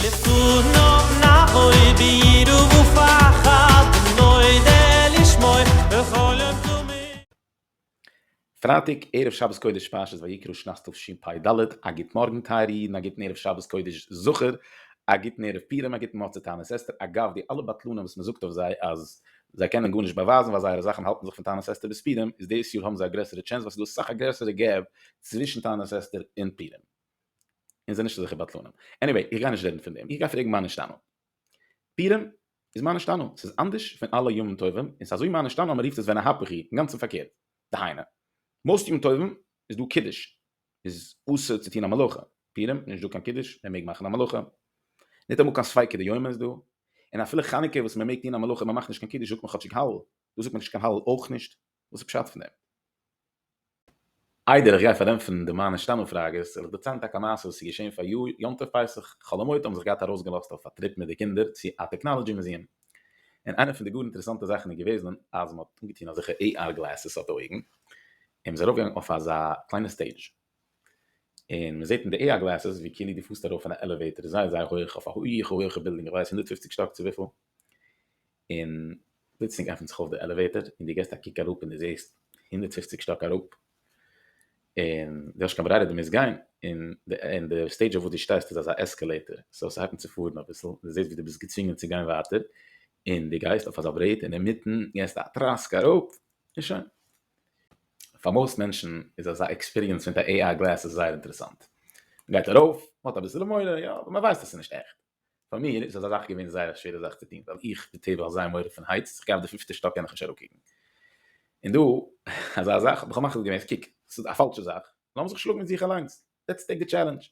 לפניו נבוא ביראה ופחד ונודה לשמו בכל יום תמיד. פרייטאג ערב שבת קודש פרשת ויקרא שנת תשפ ד, א גוט מארגן טייערע אידן א גוטן ערב שבת קודש זכור, א גוטן ערב פורים א גוטן מצות תענית אסתר, אגב די אלע בטלנים וואס מען זאגט אויף זיי אז זיי קענען גארנישט באווייזן ווייל זייערע זאכן האלטן זיך פון תענית אסתר ביז פורים איז דאס יאר האבן זיי א גרעסערע טשענס ווייל ס'איז דא אסאך א גרעסערע געפ צווישן תענית אסתר און פורים. און זיי נישט אזעלכע בטלנים. עניוועי, איך גיי נישט רעדן פון דעם, איך גיי פרעגן מה נשתנה. פורים איז מה נשתנה, ס'איז אנדערש פון אלע ימים טובים, און ס'איז אזוי מה נשתנה אז מען רופט עס ווען ההיפך היא, אינגאנצן פארקערט. דהיינו, מאוסט ימים טובים איז דא קידוש, איז אסור צו טון א מלאכה, פורים נישט דא קיין קידוש, מען מעג מאכן א מלאכה, ניטאמאל קיין ספיקא דיומא איז דא, און אפילו חנוכה וואס מען מעג טון א מלאכה און מען מאכט נישט קיין קידוש זאגט מען כאטשיג הלל, דא זאגט מען נישט קיין הלל אויך נישט. וואס איז פשט פון דעם? איידער איך גיי פארענטפערן די מיין השתנו פראגעס, וויל איך דערציילן טאקע א מעשה וואס איז געשען פאריאר יום טוב פסח, חלומות האבן זיך געהאט ארויסגעלאזט אויף א טריפ מיט די קינדער צו א טעקנאלעדזשי מוזיעם, און איינע פון די גאר אינטערעסאנטע זאכן איז געוועזן אז מען האט אנגעטון אזעלכע AR גלעסעס אויף די אויגן, און מען איז ארויפגעגאנגען אויף אזא קליינע סטעידזש, און מען זעט אין די AR גלעסעס ווי כאילו דו פארסט ארויף אין א עלעוועיטאר זייער זייער הויעך אויף א הויעכע הויעכע בילדינג איך ווייס הונדערט פופציג שטאק צו וויפיל, און פלוצלינג עפענט זיך אויף די עלעוועיטער און דו געסט א קוק אראפ און דו זעסט הונדערט פֿופֿציק שטאק אראפ און דו האסט קיין ברירה דו מוזט גיין און די און די סטעידזש אויף וואס דו שטייסט איז אזא עסקעלעיטער סאו ס'הייבט אן צו פארן אביסל און דו זעסט ווי דו ביסט געצווינגען צו גיין ווייטער און דו גייסט אויף אזא ברעט און אינמיטן געסטו א טראסק אראפ און שוין. פאר מאוסט מענטשן איז אזא עקספיריענס מיט א AR גלעסעס זייער אינטערעסאנט. מ'גייט ארויף, מ'האט אביסעלע מורא, יא, אבער מ'ווייסט אז ס'איז נישט עכט. פאר מיר איז אזא זאך געווען זייער א שווערע זאך צו טון ווייל איך בי טבע האב זייער מורא פון הייטס זיך גיין אויף די פיפטע שטאק קען איך נישט אראפקוקן און דא אזא זאך האב איך מחליט געווען אז קוק עס איז א פאלשע זאך לאמיר זיך שלאגן מיט זיך אליינס לעטס טעיק די טשעלענדזש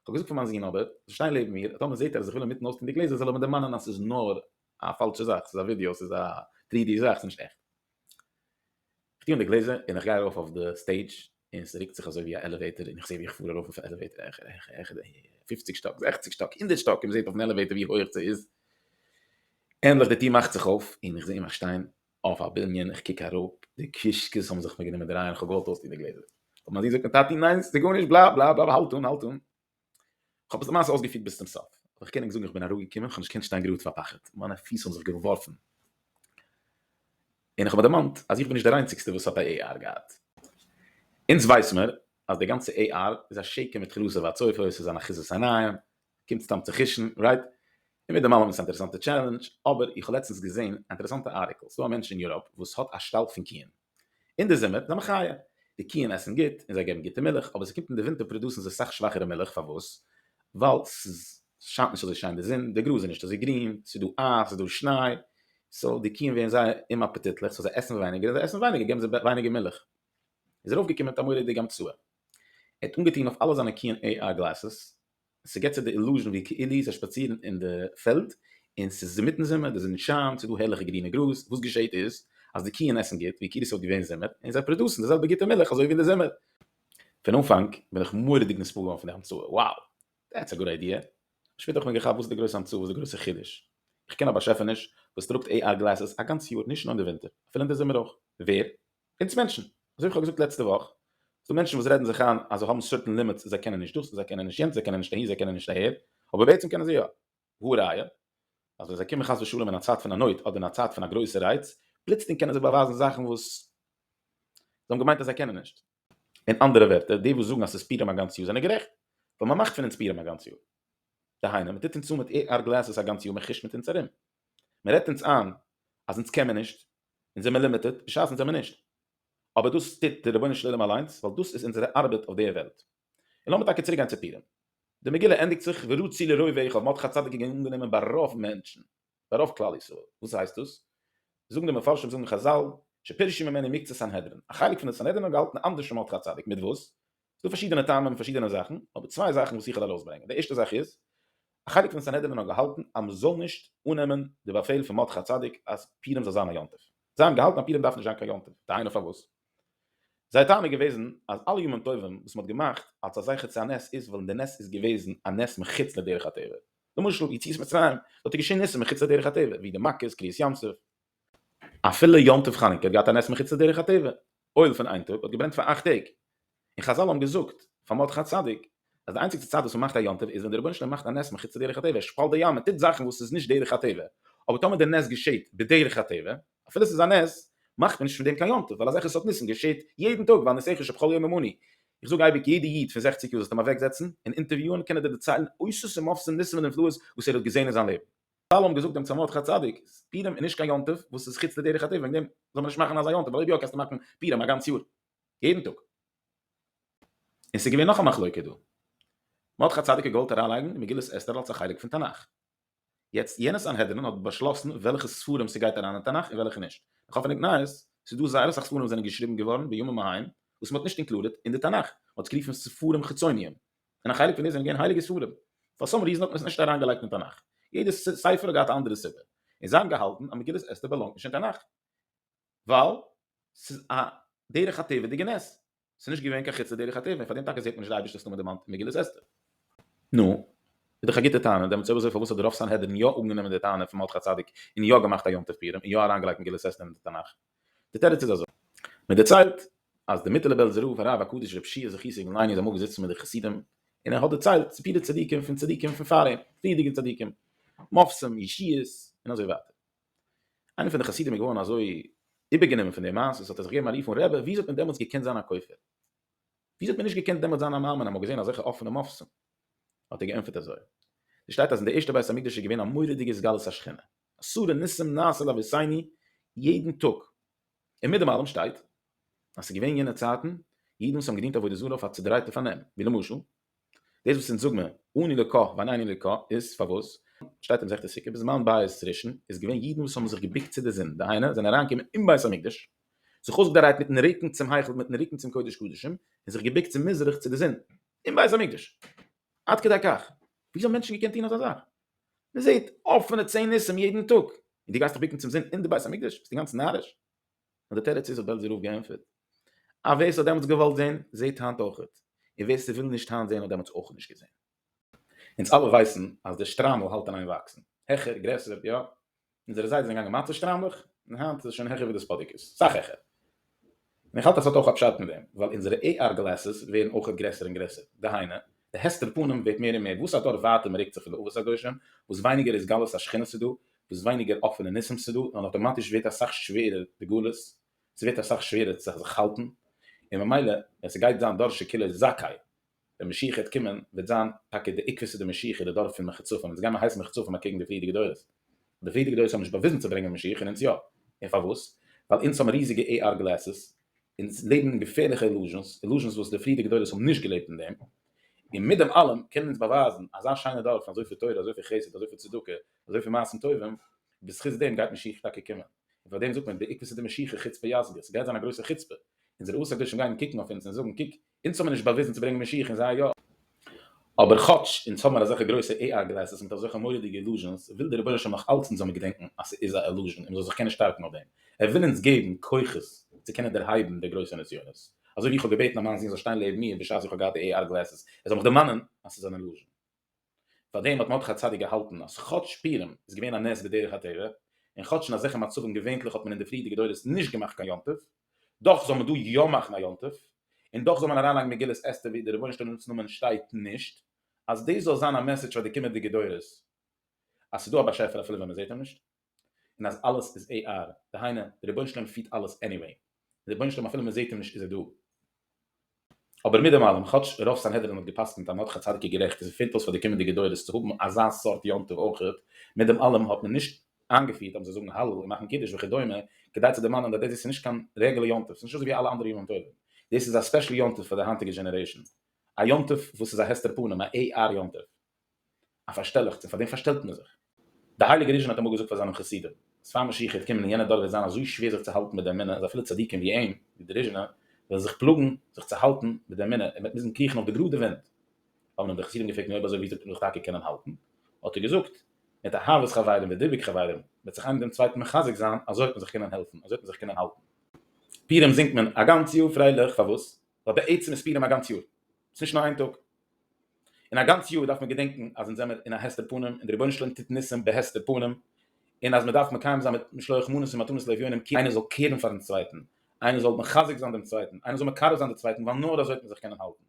כ'האב געזאגט פאר מיין זון אבער זאל שטיין לעבן מיר און טאמער זעט ער אז איך וויל אינמיטן אויסטון די גלעזער זאל ער מיר דערמאנען אז עס איז נאר א פאלשע זאך עס איז א ווידיאו עס איז א טרי די זאך עס איז נישט עכט איך טוה אן די גלעזער און איך גיי ארויף אויף די סטעידזש און עס רוקט זיך אזוי ווי א עלעוועיטער און איך זעה ווי איך פאר ארויף אויפן עלעוועיטער העכער העכער העכער פופציג שטאק זעכציג שטאק הונדערט שטאק און מען זעט אויפן עלעוועיטער ווי הויעך ס'איז ענדליך די טיר מאכט זיך אויף און איך זעה מיך שטיין אויף א בנין איך קוק אראפ די קישקעס האבן זיך מיר גענומען דרייען איך האב געוואלט אויסטון די גלעזער אבער מיין זון זאגט מיר טאטי ניין ס'איז גארנישט בלייב בלייב בלייב האלט אן האלט אן כ'האב עס למעשה אויסגעפירט ביז צום סוף, אבער כ'קען ענק זאגן איך בין אראפגעקומען, כ'האב נישט געקענט שטיין גראד פאר פחד, מיינע פיס האבן זיך געווארפן, און כ'האב מיר דערמאנט אז איך בין נישט דער איינציגסטער וואס האט א עי אר געהאט. אונז ווייס מיר אז די גאנצע עי אר איז א שקר מיט חלאסה והצופה, עס איז אן אחיזת עיניים, קומט סתם צו חישן, רייט? און מיט דעם אלעם איז עס א אינטערעסאנטע טשעלענדזש, אבער איך האב לעצטנס געזען א אינטערעסאנטע ארטיקל, ס'דא א מענטש אין יוראפ וואס האט א שטאלק פון קיען, אין די זומער זענען חיה, די קיען עסן גוט און זיי געבן גוטע מילך, אבער ס'קומט אין די ווינטער פראדוסן זיי סאך שוואכערע מילך, פארוואס? ווייל ס'שיינט נישט אזוי שיין די זון, די גראז איז נישט אזוי גרין, ס'איז דא אייז, ס'איז דא שניי, סאו די קיען ווערן זייער אומאפעטיטליך, סאו זיי עסן ווייניגער, און זיי עסן ווייניגער געבן זיי ווייניגער מילך. איז ארויפגעקומען תמורי די גמ צ, ער האט אנגעטון אויף אלע זיינע קיען עי איי גלעסעס, ס'געט צו די אילוזשען ווי כאילו זיי שפאצירן אין די פעלד און ס'איז אינמיטן זומער, די זון שיינט, ס'איז דא הערליכע גרינע גראז, וואס געשעהט איז אז די קיען עסן גוט ווי כאילו ס'וואלט געווען זומער, און זיי פראדוסן די זעלבע גוטע מילך אזוי ווי אין די זומער. פון אנפאנג בין איך מורא'דיג נספעל געווארן פון די המצאה, wow! דעטס א גוד איידיע! אבער שפעטער האב איך מיר געכאפט וואס איז די גרויסע המצאה, וואס איז די גרויסע חידוש? איך קען א באשעפעניש וואס טראגט AR גלעסעס א גאנץ יאר, נישט נאר אין די ווינטער, אפילו אין די זומער אויך. ווער? אונז מענטשן, אזוי ווי כ'האב געזאגט לעצטע וואך, ס'דא מענטשן וואס רעדן זיך איין אז זיי האבן סערטען לימיטס, זיי קענען נישט דאס, זיי קענען נישט יענץ, זיי קענען נישט אהין, זיי קענען נישט אהער, אבער בעצם קענען זיי יא. והא ראיה, אז ווען זיי קומען חס ושלום אין א צייט פון א נויט אדער אין א צייט פון א גרויסע רייץ, פלוצלינג קענען זיי באווייזן זאכן וואס זיי האבן געמיינט אז זיי קענען נישט. אין אנדערע ווערטער, די וואס זאגן אז ס'איז פורים א גאנץ יאר זענען גערעכט, ווייל מען מאכט פון אונז פורים א גאנץ יאר. דהיינו, מען טוט אונז אן מיט עיר גלעסעס א גאנץ יאר, מען כושט מיט אונז ארום, מען רעדט אונז איין אז אונז קען מען נישט, און זעמער לימיטעד, בשעת'ן זעמער נישט. אבער דאס טוט דער רבונו של עולם אליינס, ווייל דאס איז אונזערע ארבעט אויף דער וועלט. און לאמיר טאקע צוריקגיין צו פורים. די מגילה ענדיגט זיך ורע צ לרוב איך האב מרדכי צדיק געווען אנגענומען ביי רוב מענטשן, ביי רוב כלל ישראל. וואס הייסט דאס? זאגן די מפרשים, זאגן חזל, שפירשו ממנו מקצת סנהדרין, א חלק פון די סנהדרין האבן געהאלטן אנדערש פון מרדכי צדיק, מיט וואס? ס'דא פארשידענע טעמים פארשידענע זאכן, אבער צוויי זאכן וואס איך וועל ארויסברענגען, די ערשטע זאך איז, א חלק פון סנהדרין האט געהאלטן אז מ'זאל נישט אננעמען די באפעל פון מרדכי הצדיק אז פורים זאל זיין א יום טוב, זיי האבן געהאלטן אז פורים דארף נישט זיין קיין יום טוב, דהיינו פארוואס? זייער טענה איז געוועזן אז אלע ימים טובים וואס מ'האט געמאכט אלס א זכר צו א נס איז ווייל די נס איז געוועזן א נס מחוץ לדרך הטבע, למשל יציאת מצרים, דארט איז געשען ניסים מחוץ לדרך הטבע, ווי די מכות, קריעת ים סוף. אפילו יום טוב חנוכה האט געהאט א נס מחוץ לדרך הטבע, אויל פון איין טאג האט געברענט פאר אכט טעג, און חזל האבן געזאגט פאר מרדכי צדיק אז די איינציגסטע צייט וואס מען מאכט א יום טוב איז ווען דער רבונו של עולם מאכט א נס מחוץ לדרך הטבע, ער שפאלט די ים, מען טוט זאכן וואס איז נישט דרך הטבע, אבער טאמער דער נס געשעהט בדרך הטבע, אפילו עס איז א נס, מאכט מען נישט פון דעם קיין יום טוב, ווייל אזעלכע סארט ניסים געשעהט יעדן טאג, ועל נסעך אשב כל יומם אני, איך זאג אייביג יעדע איד פון זעכציג יאר זאלסטו אים אוועקזעצן און אינטערוויוען קען ער דיר דערציילן אוסף ומופת פון ניסים און נפלאות וואס ער האט געזעהן אין זיין לעבן. חזל האבן געזאגט דעם צמרת הצדיק, פורים איז נישט קיין יום טוב וואס איז חוץ לדרך הטבע וועגן דעם זאל מען נישט מאכן אזא יום טוב, ווייל אויב יא קענסטו מאכן פורים א גאנץ יאר יעדן טאג. און ס'איז געווען נאך א מחלוקה דא, מרדכי הצדיק האט געוואלט אריינלייגן מגילת אסתר אלס א חלק פון תנך, יעצט יענע סנהדרין האט באשלאסן וועלכע ספרים ס'גייט אריין אין תנך און וועלכע נישט, מיך האט פארנומט נייעס, ס'איז דא זייער אסאך ספרים וואס זענען געשריבן געווארן בימים ההם וואס מ'האט נישט אינקלודעט אין די תנך, מ'האט עס גערופן ספרים חיצוניים, און א חלק פון די זענען געווען הייליגע ספרים, פאר סאם ריזען האט מען עס נישט אריין געלייגט אין תנך, יעדע ספר האט געהאט א אנדערע סיבה, און זיי האבן געהאלטן אז מגילת אסתר באלאנגט נישט אין תנך, ווייל ס'איז א דרך הטבע'דיגע נס, ס'איז נישט געווען קיין חוץ לדרך הטבע, און פאר דעם טאקע זעט מען נישט די אייבערשטער'ס נאמען דערמאנט אין מגילת אסתר. נו, איז דאך א גוטע טענה, דעמאלטס אויב אזוי פארוואס האט די רוב סנהדרין יא אנגענומען די טענה פון מרדכי צדיק און יא געמאכט א יום טוב פורים און יא אריין געלייגט מגילת אסתר אין די תנך? די תירוץ איז אזוי, מען דערציילט אז די מיטעלע בעלזער רב הרב הקדוש רבי שיע זכי' סעיגון לייני איז אמאל געזיצן מיט די חסידים און ער האט דערציילט סיפורי צדיקים פון צדיקים פון פאר אים, פריערדיגע צדיקים, מופתים, ישועות, און אזוי ווייטער. איינער פון די חסידים איז געווארן אזוי איבערגענומען פון די מעשה ס'האט ער זיך געגעבן א רוף און רבי וויאזוי האט מען דעמאלטס געקענט זיין א כופר? וויאזוי האט מען נישט געקענט דעמאלטס זיין א מאמין אז מ'האט געזען אזעלכע אפענע מופתים? האט ער געענטפערט אזוי, ס'שטייט אז אין די ערשטע בית המקדש איז געווען א מורא'דיגע סגלות השכינה, עשרה ניסים נעשה לאביסיני יעדן טאג, און מיט דעם אלעם שטייט אז ס'איז געווען יענע צייטן אידן וואס האבן געדינט עבודה זרה אויף א צודרייטע פארנעם, ווי למשל דאס וואס אונז זאג מיר אני לקה ואני אני לקה איז פארוואס שטייט אין מסכת סוכה בזמן בית ראשון איז געווען אידן וואס האבן זיך געבוקט צו די זון דהיינו זענען אריין געקומען אין בית המקדש זיך אויסגעדרייט מיטן רוקן צום היכל מיטן רוקן צום קודש קדשים און זיך געבוקט צו מזרח צו די זון אין בית המקדש עד כדי כך ווי אזוי האבן מענטשן געקענט טון אזא זאך? מען זעט אפענע צען ניסים יעדן טאג, און דו גייסט דיך בוקן צום זון אין די בית המקדש? ביסט אינגאנצן נאריש? נאר די תירוץ איז האט בעלזער רב געענטפערט אז ווער ס'האט דעמאלטס געוואלט זען זעט היינט אויכעט, און ווער ס'וויל נישט היינט זען האט דעמאלטס אויך נישט געזען. אונז אלע ווייסן אז דער שטריימל האלט אין איין וואקסן העכער, גרעסער, יא, אונזערע זיידעס זענען געגאנגען מצה שטריימלעך, און היינט איז עס שוין העכער ווי די ספאדיקעס, סאך העכער. און איך האלט אז ס'האט אויך א פשט מיט דעם, ווייל אונזערע AR גלעסעס ווערן אויכעט גרעסער און גרעסער, דהיינו, די הסתר פנים ווערט מער און מער, וואס אדורך ווייטער מ'רוקט זיך פון די אבות הקדושים, וואס ווייניגער התגלות השכינה ס'איז דא, וואס ווייניגער אפענע ניסים ס'איז דא, און אויטאמאטיש ווערט אסאך שווערער די גלות, ס'ווערט אסאך שווערער צו זיך האלטן, און ממילא, ווען ס'גייט זיין דור שכולו זכאי, ווען משיח העט קומען וועט זיין טאקע די עיקבע סדר משיחי די דור פון מחצפים אונז גיימער הייסן מחצפים אקעגן די פריערדיגע דורות די פריערדיגע דורות האבן נישט באוויזן צו ברענגען משיח און אונז יא און פארוואס ווייל אונז האבן ריזיגע עי אר גלעסעס אונז לעבן אין געפערליכע אילוזשענס אילוזשענס וואס די פריערדיגע דורות האבן נישט געלעבט אין דעם און מיט דעם אלעם קענען אונז באווייזן אזא שיינע דור פון אזויפיל תורה אזויפיל חסד אזויפיל צדקה אזויפיל מעשים טובים בזכות דעם גייט משיח טאקע קומען און פארדעם זאגט מען די עיקבע סדר משיחי חוצפה יסגא ס'גייט זיין א גרויסע חוצפה אונזערע אבות הקדושים גייען קוקן אויף אונז און זאגן קוק אונז האבן מיר נישט באוויזן צו ברענגען משיח און זיי יא. אבער כאטש אונז האבן מיר אזעלכע גרויסע AI גלעסעס מיט אזעלכע מורא'דיגע אילוזשענס, וויל דער רבונו של עולם נאך אלץ אונז זאל מיר געדענקן אז ס'איז א אילוזשען און מ'זאל זיך קענען שטארקן אויף דעם. ער וויל אונז געבן כוחות צו קענען דערהייבן די גרויסע נסיונות. אזוי ווי איך האב געבעטן אז מיין זון זאל שטיין לעבן מיר בשעת איך האב געהאט די AI גלעסעס, ער זאל מיך דערמאנען אז ס'איז אן אילוזשען. פאר דעם האט מרדכי הצדיק געהאלטן אז כאטש פורים איז געווען א נס בדרך הטבע, און כאטש אין אזעלכע מצבים געווענטליך האט מען אין די פריערדיגע דורות נישט געמאכט קיין יום טוב, דאך זאל מען דא יא מאכן א יום טוב, און דאך זאל מען אריינלייגן מגילת אסתר וואו אין די רבונו של עולם'ס נאמען שטייט נישט, אז דאס זאל זיין א מעסעדזש פאר די קומענדיגע דורות אז ס'איז דא א באשעפער אפילו ווען מ'זעט אים נישט. און אז אלעס איז ע ר, דהיינו די רבונו של עולם פירט אלעס עניוועי, די רבונו של עולם אפילו מען זעט אים נישט איז ער דא. אבער מיט דעם אלעם, כאטש רוב סנהדרין האט געפסקנט אז נאר ח צדיקי גערעכט איז עס פעלט אויס פאר די קומענדיגע דורות צו האבן אזא סארט יום טוב אויכעט, מיט דעם אלעם האט מען נישט איינגעפירט אז מען זאל זאגן הלל און מאכן קידוש וכדומה כדי צו דערמאנען אז דעס איז נישט קיין רעגולער יום טוב, עס איז נישט אזוי ווי אלע אנדערע ימים טובים, דעס איז א ספעשל יום טוב פאר די היינטיגע דזשענערעישאן, א יום טוב וואס איז א הסתר פנים, א ע ר יום טוב. א פארשטעלעכץ, און פאר דעם פארשטעלט מען זיך. דער הייליגער ריזשין האט אמאל געזאגט פאר זיינע חסידים, אז פאר משיח העט קומען אין יענע דור וועט זיין אזוי שווער זיך צו האלטן מיט די אמונה אז אפילו צדיקים ווי אים, ווי דער ריזשינער, וועלן זיך פלאגן זיך צו האלטן מיט די אמונה, ער וועט מוזן קריכן אויף די גראדע ווענט. האבן אים די חסידים געפרעגט, נו אויב אזוי ווי זאלט איר זיך טאקע קענען האלטן? האט ער געזאגט, מיט אהבת חברים ודיבוק חברים, וועט זיך איינער דעם צווייטן מחזק זיין, אזוי וועט מען זיך קענען העלפן, אזוי וועט מען זיך קענען האלטן. פורים זינגט מען א גאנץ יאר פרייליך, פארוואס? ווייל בעצם איז פורים א גאנץ יאר, ס'נישט נאר איין טאג, און א גאנץ יאר דארף מען געדענקן אז אונז זעמיר אין א הסתר פנים און דער רבונו של עולם טוט ניסים בהסתר פנים, און אז מען דארף מקיים זיין מיט משלוח מנות און מתנות לאביונים כי איינער זאל קעירן פארן צווייטן, איינער זאל מחזק זיין דעם צווייטן, איינער זאל מקרב זיין די צווייטן ווייל נאר אזוי וועט מען זיך קענען האלטן.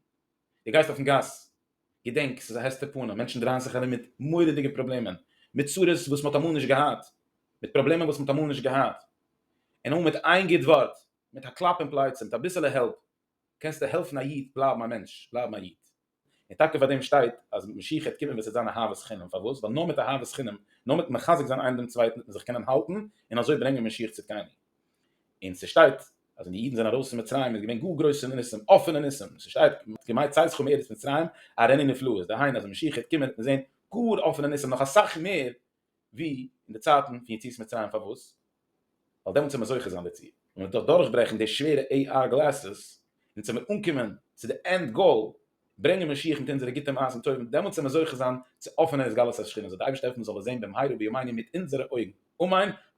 דו גייסט אויפן גאס, געדענק ס'איז א הסתר פנים, מענטשן דרייען זיך ארום מיט מורא'דיגע פראבלעמען, מיט צרות וואס מען האט אמאל נישט געהאט, מיט פראבלעמען וואס מען האט אמאל נישט געהאט, און אמאל מיט איין גוט ווארט, מיט א קלאפ אין פלייצע, מיט אביסעלע העלפ, קענסטו העלפן א איד בלייבן א מענטש, בלייבן א איד. און טאקע פאר דעם שטייט אז מיט משיח העט קומען וועט עס זיין אהבת חינם, פארוואס? ווייל נאר מיט אהבת חינם, נאר מיטן מחזק זיין איינער דעם צווייטן וועט מען זיך קענען האלטן און אזוי ברענגען משיח צדקנו. און ס'שטייט אז ווען די אידן זענען ארויס פון מצרים איז געווען גאר גרויסע ניסים, אפענע ניסים, ס'שטייט כי מה יצאתך מארץ מצרים אראני נפלאות, דהיינו אז ווען משיח העט קומען וועט מען זען גאר אפענע ניסים, נאך אסאך מער ווי אין די צייטן פון יציאת מצרים פארוואס? ווייל דעמאלטס איז מען זוכה זיין דערצו, און מ'וועט דאך דורכברעכן די שווערע עי אר גלעסעס, און צו מיר אנקומען צו די ענד גאול, ברענגען משיח מיט אונזערע גוטע מעשים טובים, דעמאלטס וועלן מיר זוכה זיין צו אפענען התגלות השכינה, זאל די אייבערשטער העלפן מ'זאל עס זען בימינו בימינו מיט אונזערע אויגן, אמן.